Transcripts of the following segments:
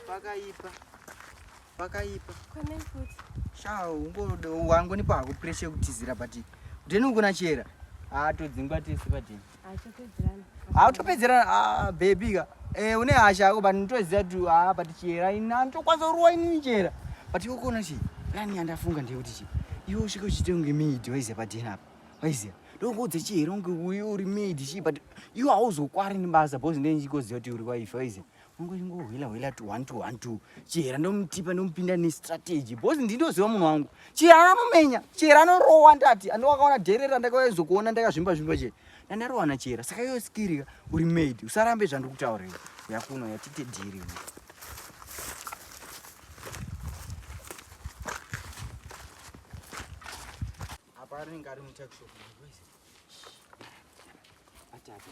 pakaipa pakaipa shaa ungoda wangu nipo hakupurese kutizira but then ukuna chera haa todzingwa tese padini hautopedzerana ah, baby ka eh, une hasha yako but nditoziva kuti haa ah, but chera ini anditokwanisa kurowa inini chera but ikokuona chii plani yandafunga ndeyekuti chii iwe usvike uchiite kunge maid waiziva padena apa waiziva ndokuudza chii here kunge uyu uri maid chii but iwe hauzokwari nebasa bcause ndee ndichikoziva kuti uri waife waiziva Ngohwila hwila tu one to one to Chihera ndomutipa ndomupinda ne strategy because ndinoziva munhu wangu. Chihera anomenya, Chihera anorowa ndati ando wakaona dherera ndakawezo kuona ndakazvimba zvimba che. Na ndarowana Chihera saka iwe skirika uri maid usarambe zvandikutaura iwe. Yakuno yatite dhiri. Apa rinenge ari mutakishopu. Ataka.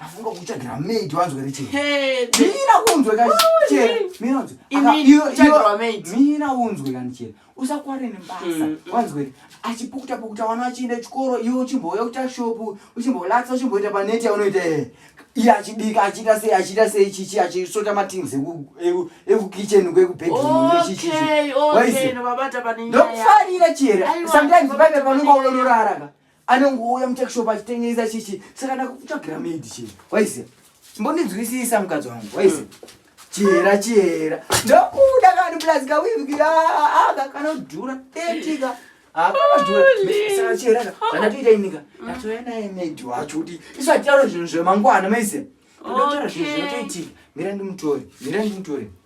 afunga kutsvagira maid wanzwe richemina unzwe kacheramina unzwe kanichera usakware nebasa mm, mm. wanzwe achipukuta pukuta wana achienda chikoro iwe uchimbouya kuita shopu uchimbolatsa uchimboita paneti yaunoita ee iye achibika achiita sei achiita sei chichi achisota matings ekukitchen kwekubedroomndokufarira chera sometimes paive panonga unororaraka anongouya mutakishopu achitengesa chichi saka ndakutsvagira maidi chii waiziva mbondinzwisisa mukadzi wangu waiziva chihera chihera ndokuda kani plus kawiviki aka kanodhura tetika akanodhurasaka chiheraka zvanatoita inika ndatouya naye maidi wacho kuti isu hatitaura zvinhu zvemangwana maise ndotaura zvinhu zvinotoitika mira ndimutore mira ndimutore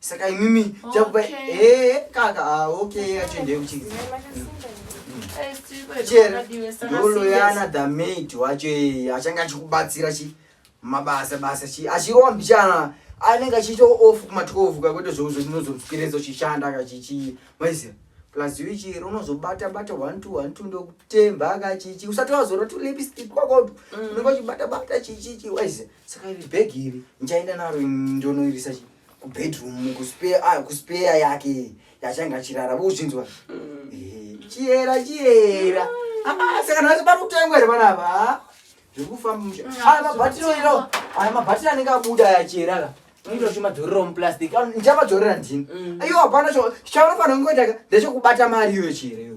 saka imimi chakupa eh kaka ah okay achende kuchi chero ndoloyana the maid wacho eh, achanga achikubatsira chi mabasa basa chi achirowa mbichana anenge achiita off kuma 12 kakwete zvouzo ndinozomupireza uchishanda akachichi maiziva plus you chero unozobata bata one two one two ndokutemba ka chichi usati wazora tu lipstick kwako mm. unenge uchibata bata chichichi wise saka iri bag iri ndichaenda naro ndonoirisa chichi kubedroom kuspare ah, kuspare yake yachange achirara vozvinzwa mm. eh, chiyera chiyera ah, saka nhasi pari kutengwa here vana ava ah, zviri kufamba musha mm, aya mabatiro iro aya mabatiro anenge abuda yachiyera ka unoita chimadzorera muplastic ndichapadzorera ndini iyo hapana chichaunofanira kungoitaka ndechekubata mari iyoyo chiyera iyo